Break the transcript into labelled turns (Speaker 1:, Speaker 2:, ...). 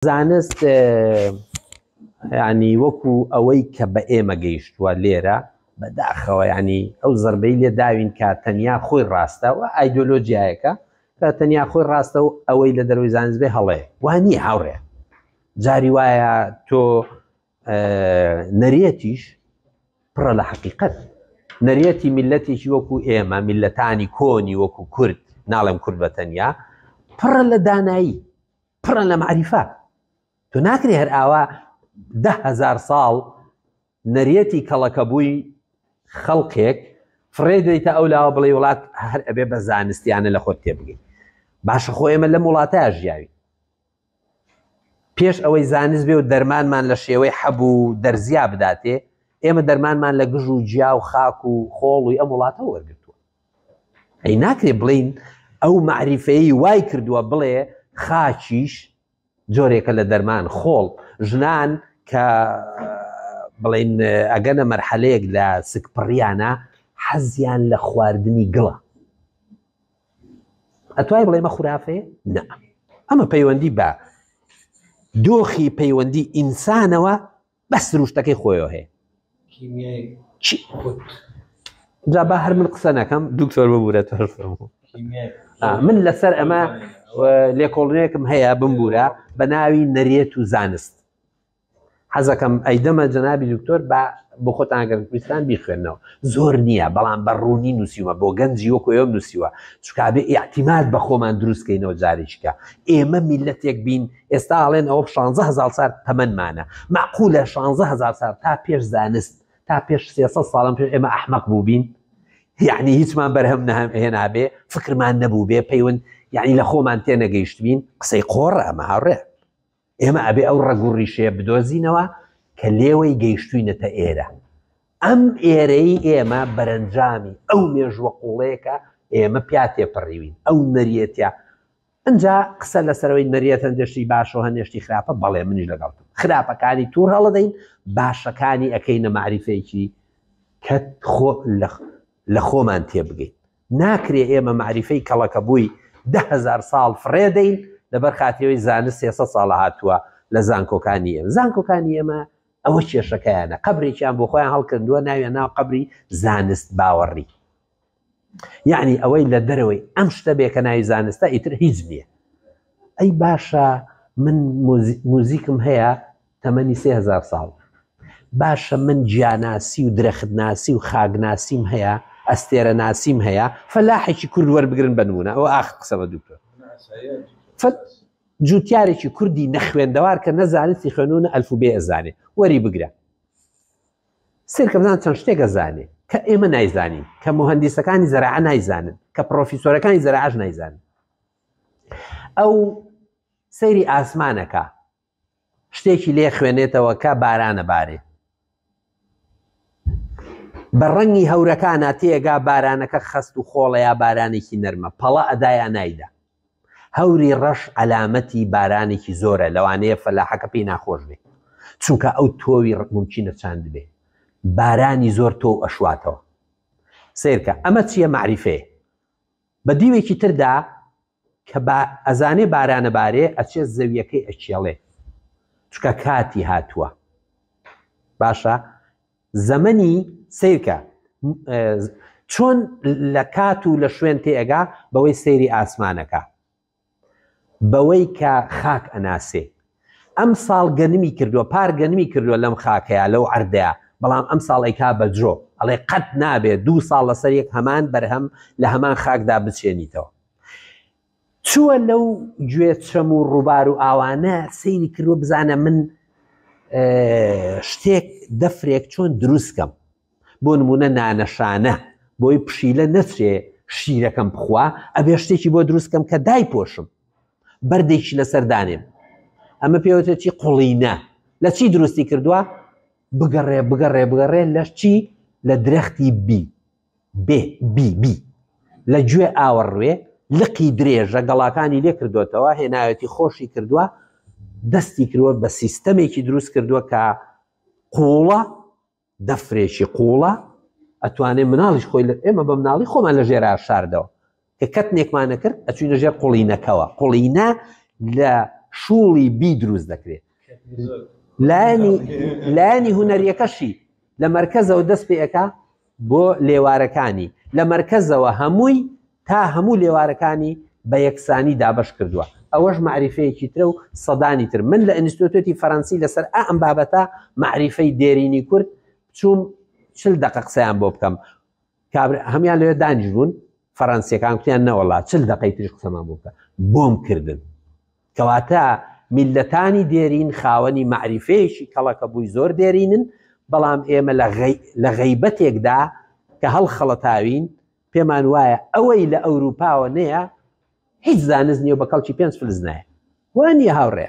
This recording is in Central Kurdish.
Speaker 1: زانست ینی وەکو ئەوەی کە بە ئێمە گەیشتووە لێرە بەداخەوە ینی ئەو زربەی لێ داوین کە تەنیا خۆی ڕاستە و ئایدۆلۆژیایەکە کە تەنیا خۆی ڕاستە و ئەوەی لە دەروی زانست بێ هەڵێ وانی هاوڕێ جاری وایە تۆ نەرێتیش پڕە لە حقیقت نەرێتی میلەتێکی وەکو ئێمە میلەتانی کۆنی وەکو کورد ناڵێم کورد بە تەنیا پڕە لە دانایی پڕە لە مەعریفە تۆ ناکرێ هەر ئاوا دە هەزار ساڵ نەرێتی کەڵەکەبووی خەڵکێک فڕێ دەیتە ئەو لاوە بڵێ وڵات هەر ئەبێ بە زانستیانە لە خۆت تێبگەین باشە خۆ ئێمە لەم وڵاتە ژیاوی پێش ئەوەی زانست بێ و دەرمانمان لە شێوەی حەبوو دەرزیا بداتێ ئێمە دەرمانمان لە گژ و جیا و خاک و خۆڵ و ئەم وڵاتە وەرگتووە ئەی ناکرێ بڵین ئەو مەعریفەی وای کردووە بڵێ خاچیش جۆرێکە لە دەرمان خۆڵ ژنان کە بڵین ئەگەنە مەرحەلەیەک لە سکپڕیانە حەزیان لە خواردنی گڵە ئەتوای بڵێمە خورافێ نە ئەمە پەیوەندی بە دۆخی پەیوەندی ئینسانەوە بەس سروشتەکەی خۆیەوە هەیە جا با هەر من قسە نەکەم دکتۆر ببوورە تەرفم من لەسەر ئەمە لێکۆڵنێکم هەیە بمبوورە بە ناوی نەرێت و زانست حەزەکەم ئەیدەمە جەنابی دکتۆر بە بۆ خۆتانگەر کوردستان بیخوێنەوە زۆر نییە بەڵام بە ڕوونی نووسیوە بۆ گەنجی وەکو ئێوە نووسیوە چکابێ ئاعتیماد بە خۆمان دروستکەینەوە جارێکیکە ئێمە میلەتێک بین ئێستا ئەڵێن ئەوە شانزە هەزار سال تەمەنمانە معقولە شانزە هەزار سال تا پێش زانست تا پێش سێسە ساڵم پێش ئێمە ئەحمەق بووبین یعنی هیچمان بەرهەم نەهەم هێنابێ فکرمان نەبوو بێ پەیون یعنی لە خۆمان تێ نەگەیشتبین قسەی قۆڕە ئەمە هاڕێ ئێمە ئەبێ ئەو ڕەگوڕی شێ بدۆزینەوە کە لێوەی گەیشتوینەتە ئێرە ئەم ئێرەی ئێمە بەرەنجامی ئەو مێژوە قوڵەیەکە ئێمە پیا تێپەڕیوین ئەو نەریەتە ئنجا قسە لەسەرەوەی نەریت هەندێ شتی باشە و هەندێ شتی خراپە بەڵێ منیش لەگەڵتم خراپەکانی توور هەڵەدەین باشەکانی ئەکەینە مەعریفێکی کە خۆ لە خۆمان تێبگەین ناکرێ ئێمە مەعریفەی کەڵەکە بووی دههزار ساڵ فڕێدەین لەبەر خاترەوەی زانست سێسە ساڵە هاتووە لە زانکۆکانی ئێمە زانکۆکانی ئێمە ئەوە کێشەکەیانە قبرێکیان بۆ خۆیان هەڵکردووە ناویان ناو قبری زانست باوەڕی یەعنی ئەوەی لە دەرەوەی ئەم شتە بێ کە ناوی زانستە ئیتر هیچ نییە ئەی باشە من موزیکم هەیە تەمەنی سێ هزار ساڵ باشە من جیاناسی و درەختناسی و خاگناسیم هەیە ئەستێرە ناسیم هەیە فەلاحێکی کورد وەربگرن بنمونە ئەو ئاخ قسەمە دوکتۆر جوتیارێکی کوردی نەخوێندەوار کە نەزانستی خوێنونە ئەلفوبێ ئەزانێ وەری بگرە سەیرکە بزان چەند شتێک ئەزانێ کە ئێمە نایزانین کە مهندیسەکانی زەراعە نایزانن کە پرۆفیسۆرەکانی زەراعەش نایزانن ئەو سەیری ئاسمانەکە شتێکی لێ خوێنێتەوە کە بارانە بارێ بە ڕەنگی هەورەکانە تێگا بارانەکە خەست و خۆڵەیە بارانێکی نەرمە پەڵە ئەدایان نایدا هەوری ڕەش عەلامەتی بارانێکی زۆرە لەوانەیە فەلاحەکە پێی ناخۆش بێ چونکە ئەو تۆوی ڕەش مومکینە چاندبێ بارانی زۆر تۆو ئەشواتەوە سەیرکە ئەمە چیە مەعریفەیە بە دیوێکی تردا کە با ئەزانێ بارانە بارێ ئەچێ زەویەکەی ئەکێڵێ چکە کاتی هاتووە باشە زەمەنی سەیرکە چۆن لە کات و لە شوێن تێگا بەوەی سەیری ئاسمانەکە بەوەی کە خاک ئەناسێ ئەم ساڵ گەنمی کردووە پار گەنمی کردووە لەم خاکەیە لەو ئەردەیە بەڵام ئەم ساڵی کا بە درۆ ئەڵێ قەت نابێت دوو ساڵ لەسەر یەک هەمان بەرهەم لە هەمان خاکدا بچێنیتەوە چووە لەو گوێ چەم و ڕووبار و ئاوانە سەیری کردوە بزانە من شتێک دەفرێک چۆن دروستکەم بۆ نمونە نانەشانە بۆی پشیلە نەچێ شیرەکەم بخوا ئەبێ شتێکی بۆ دروستکەم کە دای پۆشم بەردێکی لەسەر دانێم ئەمە پێوەتەچی قوڵینە لە چی دروستی کردووە بگەڕێ بگەڕێ بگەڕێ لەش چی لە درەختی بی بێ بی بی لە گوێ ئاوەڕوێ لقی درێژە گەڵاکانی لێ کردۆتەوە هێناوێتی خۆشی کردووە دەستی کروە بە سیستەمێکی دروست کردووە کە قوڵە دەفرێکی قوڵە ئەتوانێ مناڵیش خۆی لە ئێمە بە مناڵی خۆمان لە ژێرا شاردەوە کە کەتنێکمان نەکرد ئەچوینە ژێر قوڵینەکەوە قوڵینە لە شوڵی بی دروست دەکرێت لانی لانی هوەریەکەشی لە مرکزەوە دەست پێەکە بۆ لێوارەکانی لە مرکزەوە هەمووی تا هەموو لێوارەکانی بە یەکسانی دابش کردووە ئەوەش معریفەیەکی ترە و سەدانی تر من لە ئینستیتوتی فەرەنسی لەسەر ئەم بابەتە معریفەی دێرینی کورد چوم چل دقە قسەیان بۆ بکەم کابرا هەمان لەوێ دانیش بوون فەرەنسیەکان قیان نەوەڵا چل دقی تریش قسەمان بووکە بۆم کردن کەواتە میلەتانی دێرین خاوەنی معریفەیەکی کەڵەکە بووی زۆر دێرینن بەڵام ئێمە لە غەیبەتێکدا کە هەڵ خەڵەتاوین پێمان وایە ئەوەی لە ئەوروپاوە نەیە هیچ زانست نیە بە کەڵکی پێنج فلزنایە وانە هاوڕێ